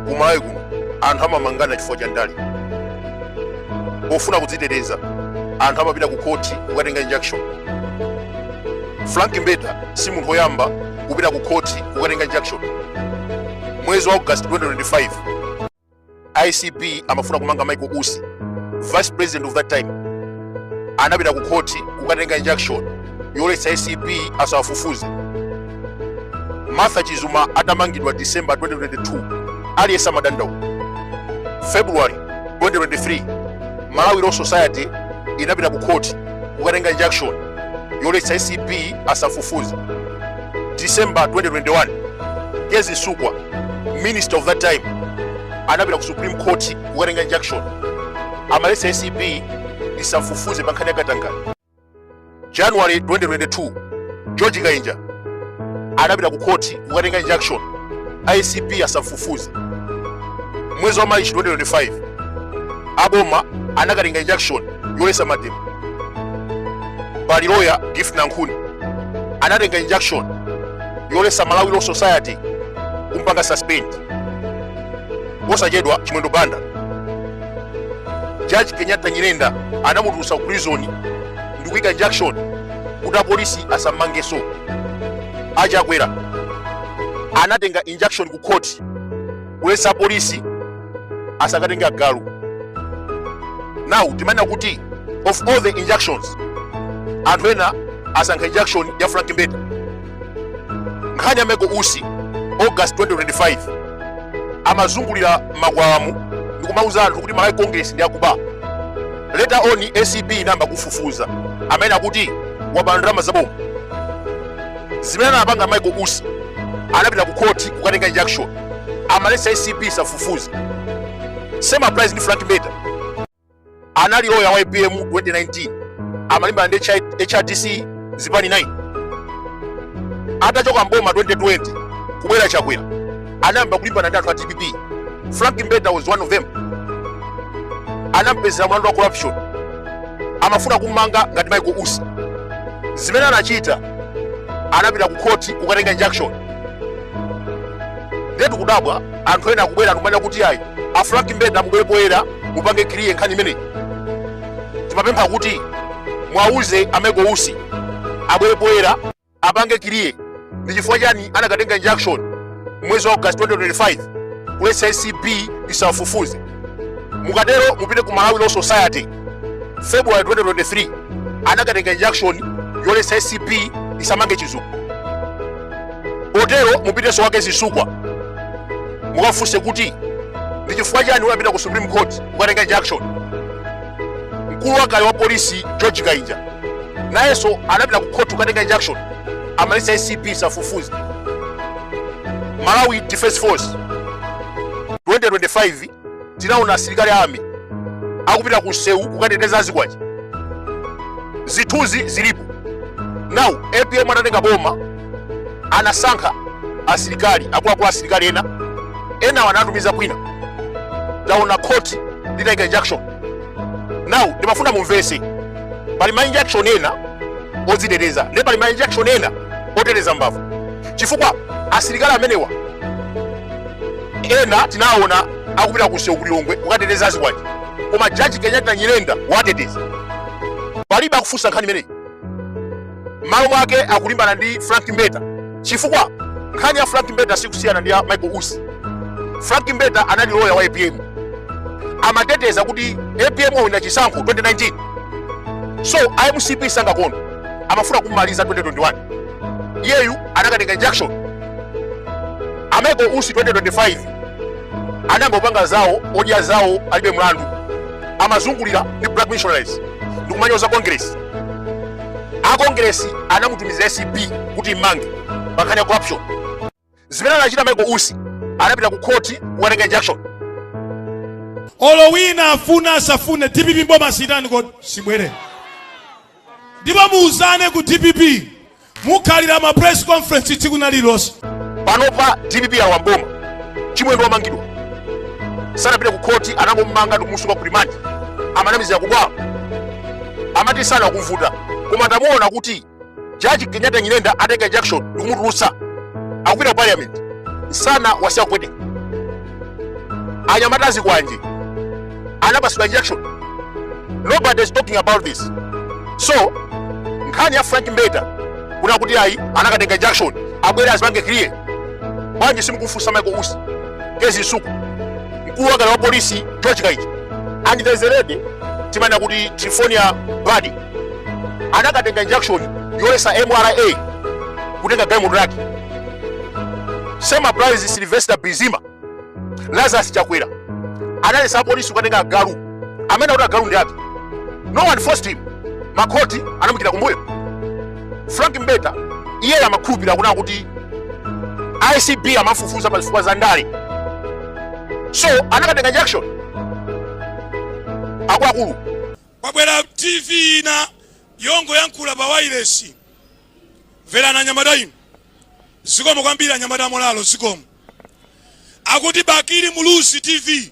kumalawi kuno anthu amamangana chifukwa cha ndale pofuna kudziteteza anthu amapita ku khoti kukatenga injunction frank mbeta si munthu woyamba kupita ku khoti kukatenga injunction mwezi wa august 2025 acb amafuna kumanga michael usi vice president of that time anapita ku khoti kukatenga injunction yoletsa acb asawafufuze martha chizuma atamangidwa december 2022 aliyense amadandaula february 2023 malawi law society inapita ku khoti kukatenga injunction yoletsa acb asafufuze december 2021 kezzie msukwa minister of that time anapita ku supreme court kukatenga injunction amalesa acb isamfufuze pa nkhani ya katangale january 2022 george kainja anapita ku court kukatenga injunction acb asamfufuze mwezi wa march 2025 aboma anakatenga injunction yolesa mademo pali loya gift nankhuni anatenga injunction yolesa malawi law society kumpanga suspend posachedwa chimwendo banda jaji kenyatta nyirenda anamutulusa ku prison ndi kuika injunction kuti apolisi asammangeso achakwera anatenga injunction ku court kulesa apolisi asakatenge agalu now timanena kuti of all the injunctions anthu ena asankha injunction ya frank mbeta nkhani ya michael usi august 2025 amazungulira makwawamu ndikumauza anthu kuti malawi congress ndi akuba leta on acb inayamba kufufuza amanena kuti waba ndalama zaboma zimene anapanga michael usi anapita ku khoti kukatenga injunction amaletsa acb isafufuze same applies ndi frank mbeta anali loya wa apm 2019 amalimbana ndi hrdc zipani 9 atachoka mboma 2020 kubwera chakwera anayamba kulimbana ndi anthu a dpp frank mbeta was one of them anampezera mlandu wa corruption amafuna kummanga ngati michael usi zimene anachita anapita ku khoti kukatenga injunction ndiye tikudabwa anthu ena akubwera ndikumanena kuti ayi a frank mbeta mubwere poyera mupange clear nkhani imeneyi timapempha kuti mwauze a michael usi abwere poyera apange clear ndi chifukwa chani anakatenga injunction mwezi wa august 2025 kuletsa acb isafufuze mukatero mupite ku malawi law society february 2023 anakatenga injunction yolesa acb isamange chizuma Potero mupitenso kwa Kezzie Msukwa mukafunse kuti ndi chifukwa chani unapita ku Supreme Court kukatenga injunction. Mkulu wakale wa polisi George Kainja nayenso anapita ku court kukatenga injunction, amaletsa ACB isafufuze. Malawi Defense Force 2025 tinaona asilikali a army akupita ku msewu kukateteza azikwanje zithunzi zilipo now apm atatenga boma anasankha asilikali akuluakulu asilikali ena enawo anatumiza kwina taona khoti litaika injunction now ndimafuna mumvese pali ma injunction ena odziteteza nde pali ma injunction ena oteteza mbavu chifukwa asilikali amenewa ena tinaona akupita ku msewu ku Lilongwe kukateteza azikwanje koma jaji Kenyatta Nyirenda wateteza palibe akufunsa nkhani imeneyi malo mwake akulimbana ndi Frank Mbeta chifukwa nkhani ya Frank Mbeta sikusiyana ndi ya Michael Usi Frank Mbeta anali loya wa APM amateteza kuti APM wawina chisankho 2019 so a MCP sangakondwe amafuna kummaliza 2021 iyeyu anakatenga injunction a michael usi 2025 anayamba kupanga zawo odya zawo alibe mlandu amazungulira ndi black missionaries ndikumanyoza congress a congress anamutumizira acb kuti immange pankhani ya corruption zimene anachita michael usi anapita ku khoti kukatenga injunction olo wina afuna asafune dpp mboma sitani kodi sibwere ndipo muuzane ku dpp Mukhalira ma press conference tsiku lina lililonse. Panopa dpp yalowa m'boma, Chimwendo wamangidwa, sanapite ku khoti, anangomumanga ndikumusunga ku rimandi, amanamizira kudwala, amati msana ukumvuta, koma tamuona kuti jaji Kenyatta Nyirenda ataika injunction ndikumutulutsa, akupita ku parliament, msana wasiya kupweteka, anyamata azikwanje. anapatsidwa injunction nobody is talking about this so nkhani ya frank mbeta kunena kuti ayi anakatenga injunction abwere azipange clear bwanji simukufunsa michael usi kezzie msukwa mkulu wakale wa polisi george kainja and there's a lady timanena kuti trifonia badi anakatenga injunction yoletsa mra kutenga galimoto yake same applies sylvester bizima lazarus chakwera analetsa apolisi kukatenga agalu amene akuti agalu ndi ake no one forced him makhoti anamuikira kumbuyo frank mbeta iye amakhulupirira kunena kuti acb amafufuza pa zifukwa za ndale so anakatenga injunction akuluakulu kwabwera tv ina yongoyankhula pa wailesi mverani anyamata inu Zikomo kwambiri anyamata amolalo zikomo akuti Bakili Muluzi TV.